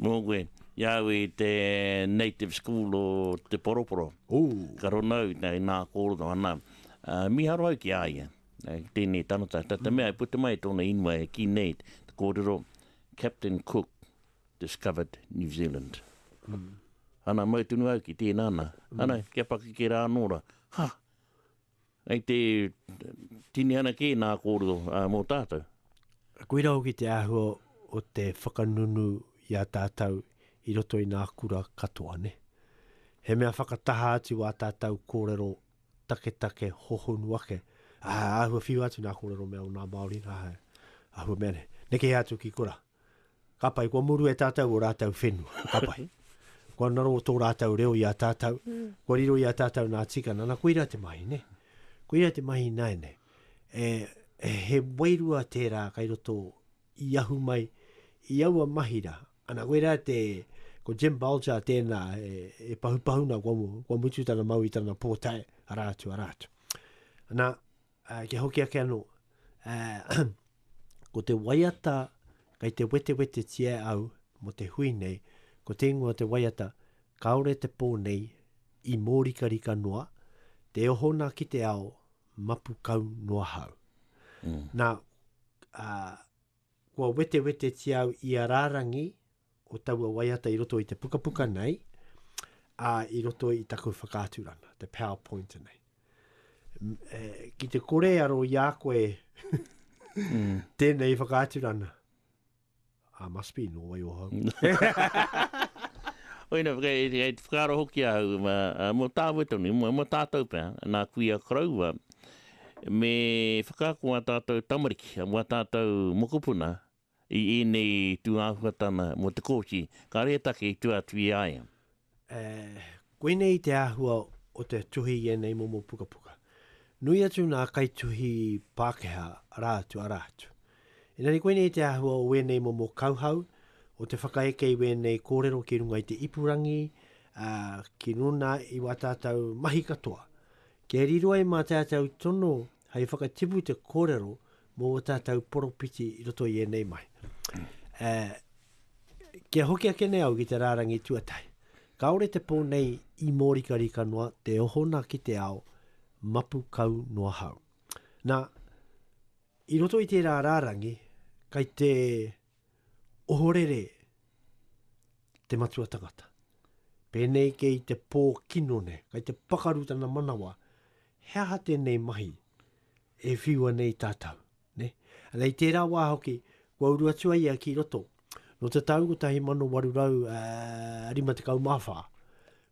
Mō koe, i a au i te Native School o Te Poroporo. Ooh. Ka rongo au i nā kōrero, ana, mīharo au ki a ia, ki tēnei tangata. Tā te mea, i puta mai tōna ingoa e kī nei te kōrero, Captain Cook discovered New Zealand. Ana, mau tonu au ki tēnā nā. Ana, kia pakeke rā anō rā, ha! Hei te tinihana kē nā kōrero mō tātou. Koirā hoki te āhua o te whakanunu i a tātou i roto i nā kura katoa, nē. He mea whakataha atu ā tātou kōrero taketake hohonu ake, ā, āhua whiu atu nā kōrero mea o nā Māori, ā, āhua mea nei. Neke atu ki kura. Ka pai, kua muru e tātou o rātou whenua. Ka pai. Kua naro o tō rātou reo i a tātou. Mm. Kua riro i a tātou nā tikana. Nā, koira te mahi, ne? Koira te mahi nai nei. E, e, he wairua tērā kai roto i ahu mai i aua mahi rā. Ana, koira te, ko Jim Bulger tēnā e, e pahupahuna kua, kua mutu tana mau i tana pōtae, arā atu, arā atu. Ana, Ā, kia hoki ake anō, ā, ko te waiata kei te wetewetetia e au mō te hui nei, ko te ingoa o te waiata, Kāore te pō nei i mōrikarika noa, te oho nā ki te ao, mapu kau noa hau. Nā, ā, kua wetewetetia au i a rārangi, o taua waiata i roto i te pukapuka nei, ā, i roto i taku whakaaturanga, te PowerPoint nei. E, ki te kore aro i a koe mm. tēnei whakaaturanga, I must be no way o hau. Oina, kei te whakaaro hoki a hau, ma, a, mo tāwe tonu, mo, mo tātou pia, nā kui a karaua, me whakaako a tātou tamariki, a tātou mokopuna, I ēnei tūāhuatanga mō te kōti, kāore e take i tua atu i a ia. E, koinei te āhua o te tuhi i ēnei momo pukapuka. Nui atu nā kaituhi Pākehā, arā atu, arā atu. Engari koinei te āhua o ēnei momo kauhau, o te whakaeke i wēnei kōrero ki runga i te ipurangi, ā, ki runā i wā tātou mahi katoa. Kia riro ai mā tātou tono hei whakatipu te kōrero mō o tātou poropiti i roto i ēnei mai. E, kia hoki ake nei au ki te rārangi tuatahi. Kāore te pō nei i mōrika rika noa te ohona ki te ao, mapu kau noa hau. Nā, i roto i tērā rārangi, kai te Ohorere te matua tangata. Pēnei kei te pō kino nei, kei te pakaru tana manawa, he aha tēnei mahi e whiua nei tātou? Ne? Nei tērā wā hoki, kua uru atu ai ia ki roto. No te tau 1854, eh,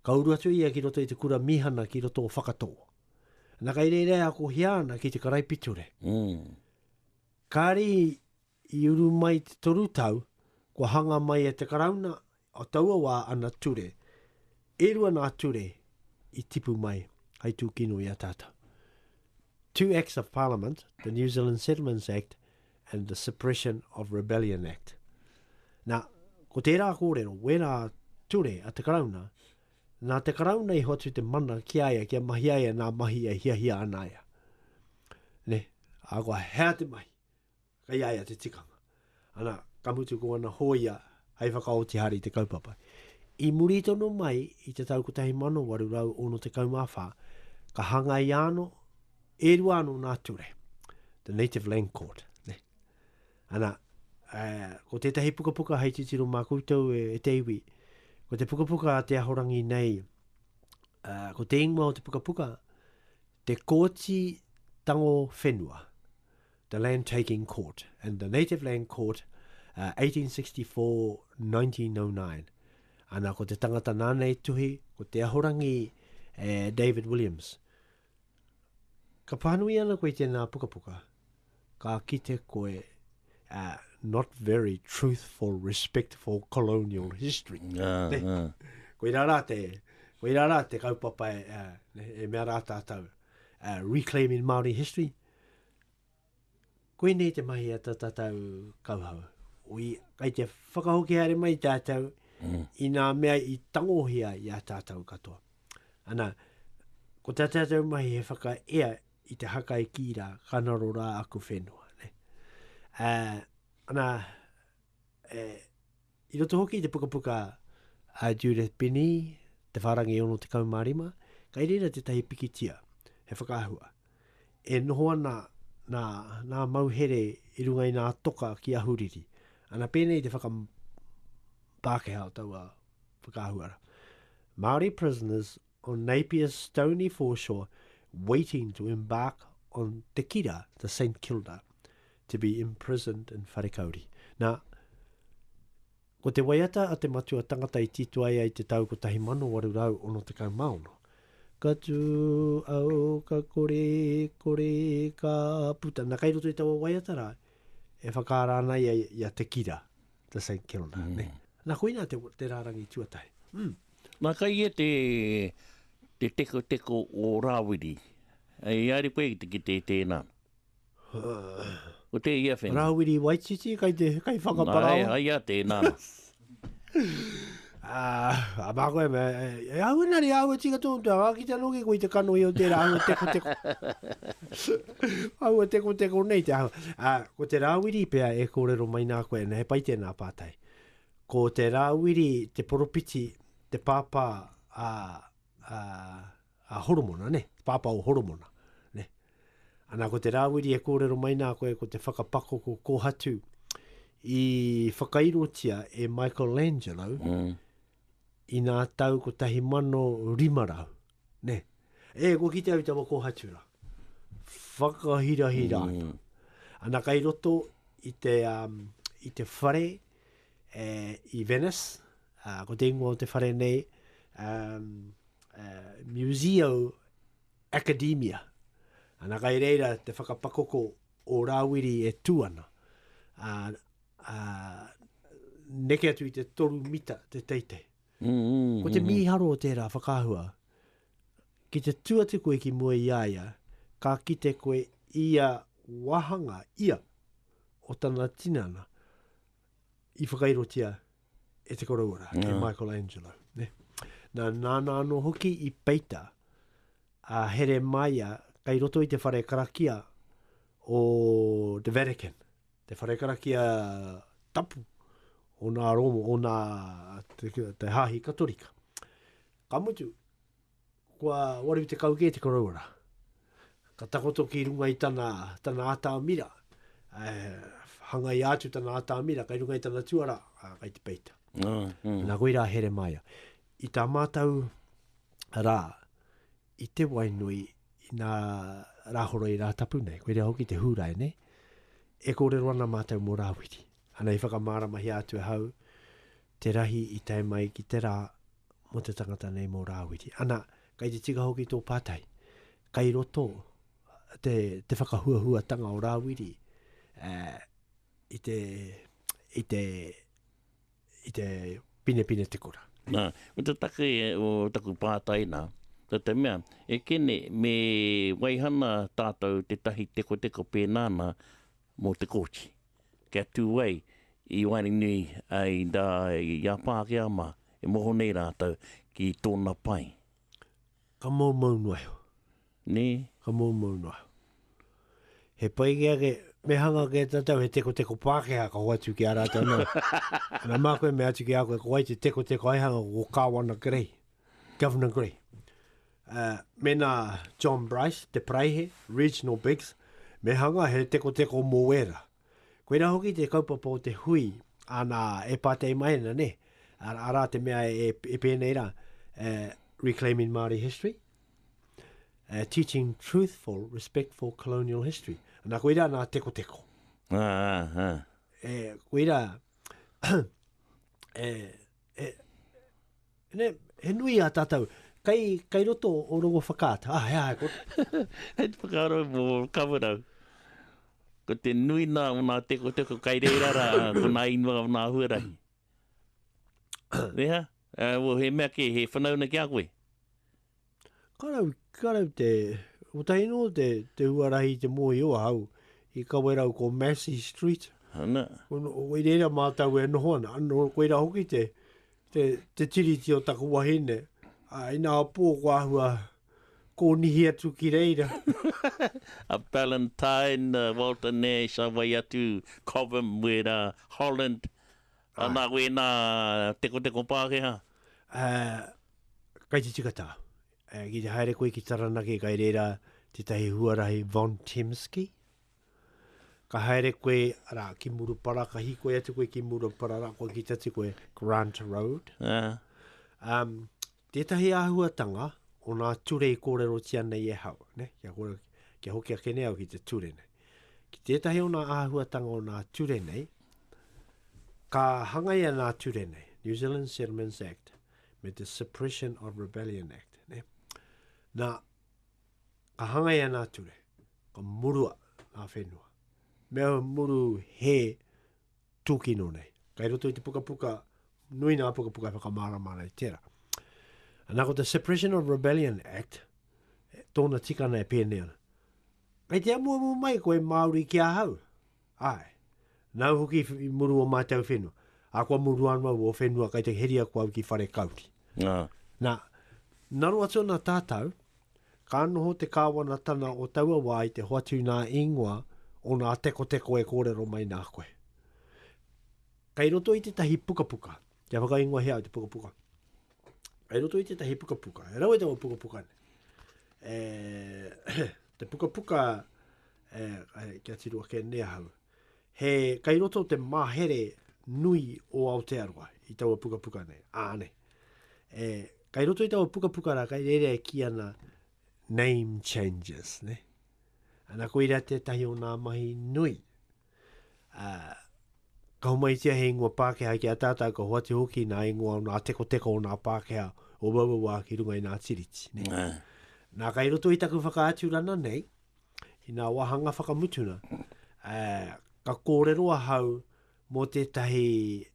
ka uru atu ia ki roto i te kura mihana ki roto o Whakatō. Na kai reira e ako hia ana ki te karaipiture. Mm. Kari I uru mai te toru tau, kua hanga mai e te Karauna o taua wā ana ture. E rua nā ture i tipu mai hai tūkino i a tātou. Two Acts of Parliament, the New Zealand Settlements Act and the Suppression of Rebellion Act. Nā, ko tērā kōrero, wērā ture a te Karauna, nā te Karauna i hoatu te mana ki a ia kia mahi ai anā mahi e hiahia ana ia. Ne, a koa, hea te mahi. Kei a ia te tikanga. Ana, ka mutu ko ana hōia hei whakaoti haere i te kaupapa. I muri tonu mai i te tau 1864, ka hangaia anō, e rua anō nā ture, The Native Land Court. Ne? Ana, uh, ko tētahi pukapuka hei titiro mā koutou e, e te iwi, ko te pukapuka a Te Ahorangi nei, uh, ko te ingoa o te pukapuka, Te Kōti Tango Whenua. The Land Taking Court and the Native Land Court, uh, 1864-1909. Ana ko te tangata nāna e tuhi, ko te ahorangi eh, David Williams. Ka pānui ana koe tēnā pukapuka, ka kite koe uh, not very truthful, respectful colonial history. Ngā, ne? ngā. Koirā rā te, koirā rā te kaupapa e, uh, e mea rā tātou, uh, reclaiming Māori history, Koinei te mahi a ta tatau kauhau. Ui, kai te whakahoki haere mai tātou mm. i nā mea i tangohia i a tātou katoa. Ana, ko tā tātou mahi he whakaea i te haka e kī rā, ka naro rā aku whenua. Ne? Uh, ana, e, I roto hoki i te pukapuka a Judith Binney, Te Whārangi 65, kai reira tētahi pikitia, he whakaahua. E noho ana nā, nā mauhere i runga i nā toka ki Ahuriri. Ana pēnei te whakam Pākehā o taua whakaahuara. Māori prisoners on Napier's stony foreshore waiting to embark on Te Kira, the St Kilda, to be imprisoned in Wharekauri. Nā, ko te waiata a te matua tangata i tito ai ai te tau 1866, Ka tū au, ka kore, kore, ka puta. Nā, kei roto i taua waiata rā, e whakaara ana ia i a Te Kira, the St Kilda. Mm. Nā, koina te, te rārangi tuatahi. Mm. Nā kai ia te tekoteko o Rāwiri. I haere koe ki te kite i tēnā. Ko tēia whenua. Rāwiri Waititi kai te kai whakaparaoa. Nā, ai ia tēnā. A mā koe me, e au ina ri au e tika tō utu, a ki te noki koe i te kanohi o tērā au e tekoteko. Au e tekoteko nei te au. Ko te Rāwiri pea e kōrero mai nā koe, he pai tēnā pātai. Ko te Rāwiri te poropiti, te pāpā a, a, a Horomona, ne? Te pāpā o Horomona, ne? Ana ko te Rāwiri e kōrero mai nā koe ko te whakapakoko kōhatu i whakairotia e Michelangelo mm. i nā tau 1500. Ne. E, kua kite au i taua kohatu ra. Whakahirahira ana. Mm. Ana kai roto i te, um, i te whare e, i Venice, uh, ko te ingoa o te whare nei, um, uh, Museo Academia. Ana kai reira te whakapakoko o Rawiri e tu ana. Uh, uh, neke atu i te toru mita te teitei. Ko te mīharo o tērā whakaahua, ki te tū atu koe ki mua i a ia, ka kite koe ia wāhanga, ia, o tana tinana i whakairotia e te Koroua-ra, e Michelangelo. Nā, nāna anō hoki i peita a Heremaia kei roto i te whare karakia o The Vatican. Te whare karakia tapu o nā Rōma, o nā te hāhi Katorika. Ka mutu, kua 80 kē te koroua rā. Ka takoto ki runga i tana, tana atamira, hangaia atu tana atamira, kai runga i tana tuara, kai te peita. Nā koirā Heremaia. I tā mātou rā, i te wai nui, i nā Rāhoro i Rātapu nei, koe rea hoki te Hūrae nei, e kōrero ana mātou mō Rāwiri. Ana i whakamāramahia atu ahau te rahi i tae mai ki te rā mō te tangata nei mō Rāwiri. Ana, kai te tika hoki tō pātai, kai roto te, te whakahuahuatanga o Rāwiri eh, i te, i te, i te pinepine te kura. Nā, ko te take o taku pātai nā, nā te mea, e Kene, me waihana tātou tētahi tekoteko pēnā nā mō te Kōti, kia tū ai i waenganui ai rā i a Pākehā mā, e moho nei rātou ki tōna pae. Ka moumou noa iho. Nē? Ka moumou noa. He pai kē ake, me hanga kē tātou he tekoteko Pākehā ka hoatu ki a rātou nā. Nā, mā koe mea atu ki a koe, ko wai te tekoteko aihanga ko Kāwana Grey, Governor Grey. Uh, mēnā John Bryce, te paraihe, Reginald Biggs, me hanga he tekoteko mō wēra. Koirā hoki te kaupapa o te hui, ana e pātei mai ana, ne? Arā te mea e, e pēnei rā, uh, Reclaiming Māori History, Uh, teaching truthful, respectful colonial history. Nā koira nā teko teko. Ā, ā, ā. E, koira, e, e, ne, he nui a tātou, kai, kai roto o rongo whakaata. Ah, hea, ko... Hei te whakaaro mō kawarau. Ko te nui nā o nā teko teko kai reira rā, ko nā inua o nā huarahi. Reha? Well, he mea kē, he whanauna ki a koe? Ka rawe, ka rawe te, kotahi nō te, te huarahi i te mōhio ahau i Kawerau ko Massey Street. Ana. Ko, i reira mātou e noho ana, nō koira hoki te, te, te tiriti o taku wahine. Ā, inā pō ko āhua kōnihi atu ki reira. a Ballantyne, a Walter Nash, a wai atu, Cobham, wērā, Holland, Ā, nā koe nā Tekoteko Pākehā? Ā, kai te tika tāu. Ā, ki te haere koe ki Taranaki, kai rērā tētahi huarahi Von Temsky. Ka haere koe, arā, ki Murupara, ka hīkoi atu koe ki Murupara, rā, kua kite atu koe, Grant Road. Ā. Ā, Tētahi āhuatanga o ngā ture i kōrerotia nei e hau, ne? Kia, kore, kia hoki ake nei au ki te ture nei. Ki tētahi o ngā āhuatanga o ngā ture nei, ka hangaia ngā ture nei, New Zealand Settlements Act, me te Suppression of Rebellion Act. Ne? Nā, ka hangai ana ture, ka murua ngā whenua. Mea muru he Tūkino nei. Kei roto i te pukapuka, nui nā pukapuka e whakamārama ana i tērā. Anā, ko te Suppression of Rebellion Act, e, tōna tikana e pēnei ana. Kei te amuamu mai ko e Māori ki ahau? Āe. Nāu hoki i muru o mātou whenua. Ā, kua muru anō au o whenua kei te heria ko au ki whare kauri. Nā, naro atu ana tātou, Ka noho te Kāwanatanga o taua wā i te hoatu nā īngoa o nā tekoteko e kōrero mai nā koe. Kei roto i tētahi pukapuka, kia whakaingohia au te pukapuka. Kei roto i tētahi pukapuka, e rawe taua pukapuka nei. E, te pukapuka, e, e, kia tiru ake nei ahau. he kei roto te mahere nui o Aotearoa i taua pukapuka nei. Āne. E, kei roto i taua pukapuka rā, kei reira e ki ana name changes, ne? Ana ko ira tētahi o nā mahi nui. Uh, ka homaitia he ingoa Pākehā ki a tātā, ka hoati hoki nā ingoa o nā tekoteko o nā Pākehā o wawawa ki runga i nā tiriti. Ne? Nā, kai roto i taku whakaaturana nei, I ngā wāhanga whakamutunga, ka kōrero ahau mō tētahi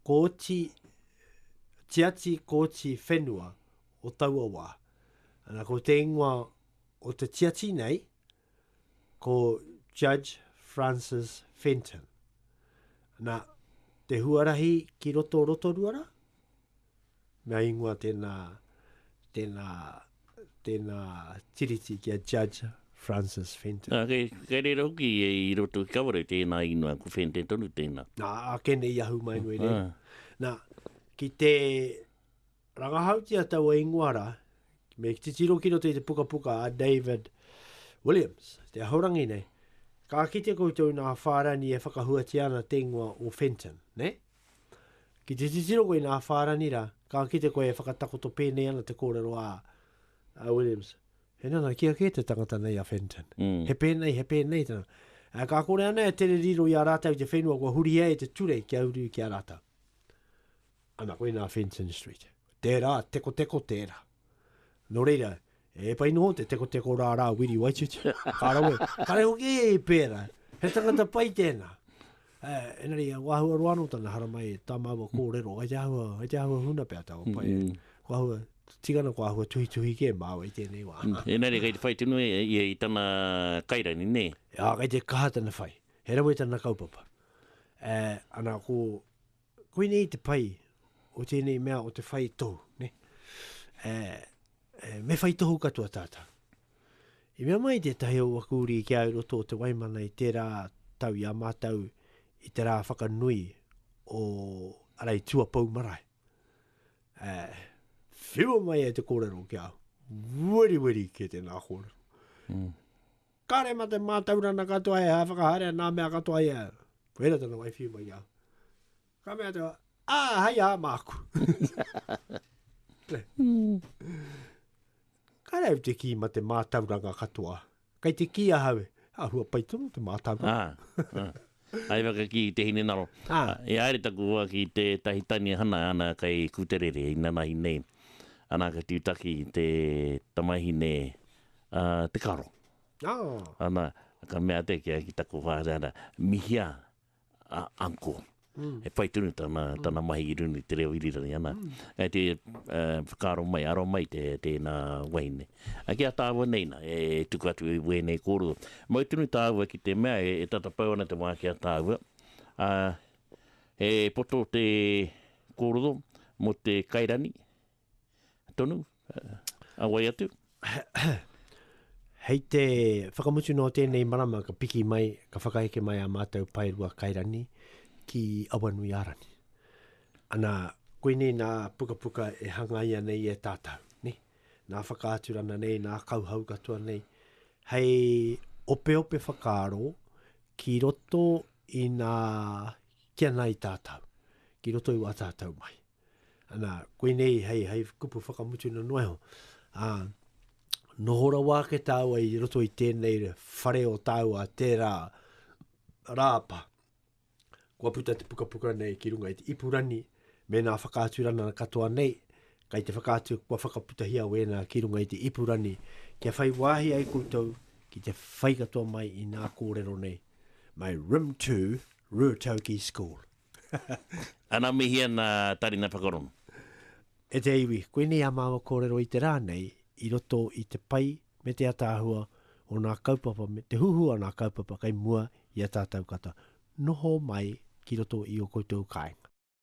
kōti, tiati kōti whenua o taua wā. Ana, ko te ingoa o te tiati nei, ko Judge Francis Fenton. Ana, te huarahi ki roto Rotorua rā, Mea ingoa tēnā, tēnā, tēnā tiriti ki a Judge Francis Fenton. Nā, kei, kei reira hoki e i roto ki Kawerau tēnā ingoa, ko Fenton tonu tēnā. Nā, ake nei i ahu mai no i reira. Ah. Nā, ki te rangahautia taua ingoa rā, me ki titiro ki roto i te pukapuka a David Williams, te ahorangi nei, ka kite koutou nā Whārani e whakahuatia ana te ingoa o Fenton, ne? Ki te titiro koe i nā whārani rā, ka kite koe e whakatakoto pēnei ana te kōrero a, a Williams. He nanakia kē te tangata nei a Fenton. Mm. He pēnei, he pēnei tana. A, ka kore ana e tere riro i a rātau te whenua kua hurihia e te ture kia uru ki a rātau. Ana koe nā Fenton Street. Tērā, tekoteko tērā. Nō reira, e pai noho te tekoteko rā rā Wiri Waititi, ka rawe, ka reo kē i pērā, he tangata pai tēnā. Uh, enari, ko ahua roa anō tana haramai, tā māua kōrero, ai te ahua, ai te ahua huna pea tāua pai. Mm -hmm. Ko ahua, tigana ko ahua tuhi tuhi ke māua i tēnei wā. Mm. E nare, kei te whai tino e, e, e, i tana kairani, nē? E, a, kei te kaha tana whai. He rawe tana kaupapa. E, ana, ko, Koinei te pai o tēnei mea o te whai tohu, ne? E, e, me whai tohu katoa tātou. I mea mai tētahi o aku uri ki ai roto o te waimana i tērā tau i a mātou i te rā whakanui o arai tuapau marae. E, whiua mai e te kōrero ki au. Weri weri ki tēnā kōrero. Mm. Kāre mā te mātaurana katoa e whakahaerea nā mea katoa i a au. Koira tana waiwhiu mai i a au. Ka mea te wā, ā, hei ā māku. Kāre au te kī mā te mātauranga katoa. Kei te kī a hau, ā, hua pai tonu te mātauranga. Hai waka ki te hinengaro. E haere taku hoa ki tētahi tani e hana ana kei Kuterere inanahi nei. Ana ka tutaki te tamahine a Te Karo. Ana ka mea te kia ki taku hoa ana, mihia a uncle. E whai tonu tana, tana mahi i runga i te reo irirangi ana. Kei te whakaaro mai, aro mai te, tēna wahine. Ki a tāua nei nā, e tuku atu i wēnei kōrero. Mau tonu tāua ki te mea e tata pau ana te wā ki a tāua, ā, he poto te kōrero mō te kairani tonu, a wai atu? Hei te whakamutu nō tēnei marama ka piki mai, ka whakaheke mai a mātou paerua kairani ki Awanuiārani. Ana, koinei nā pukapuka e hangaia nei e tātou, nē? nā Whakaaturana nei, nā Kauhau katoa nei, hei opeope whakaaro ki roto i nā kia nai tātou, ki roto i wā tātou mai. Ana, koinei hei, hei kupu whakamutu na noa iho. Ā, noho rawa ake tāua i roto i tēnei whare o tāua tērā rāpa. Kua puta te pukapuka nei ki runga i te ipurani me nā whakaaturana katoa nei, kai te whakaatu kua whakaputahia wēnā ki runga i te ipurani kia whai wāhi ai koutou ki te whai katoa mai i nā kōrero nei. My Rim to Ruatoki School. Ana mihi ana Tarina Pakarongo. E te iwi, koinei a māua kōrero i te rā nei i roto i te pai me te ataahua o nā kaupapa me te huhua o nā kaupapa kei mua i a tātau kata noho mai ki roto i o koutou kāinga.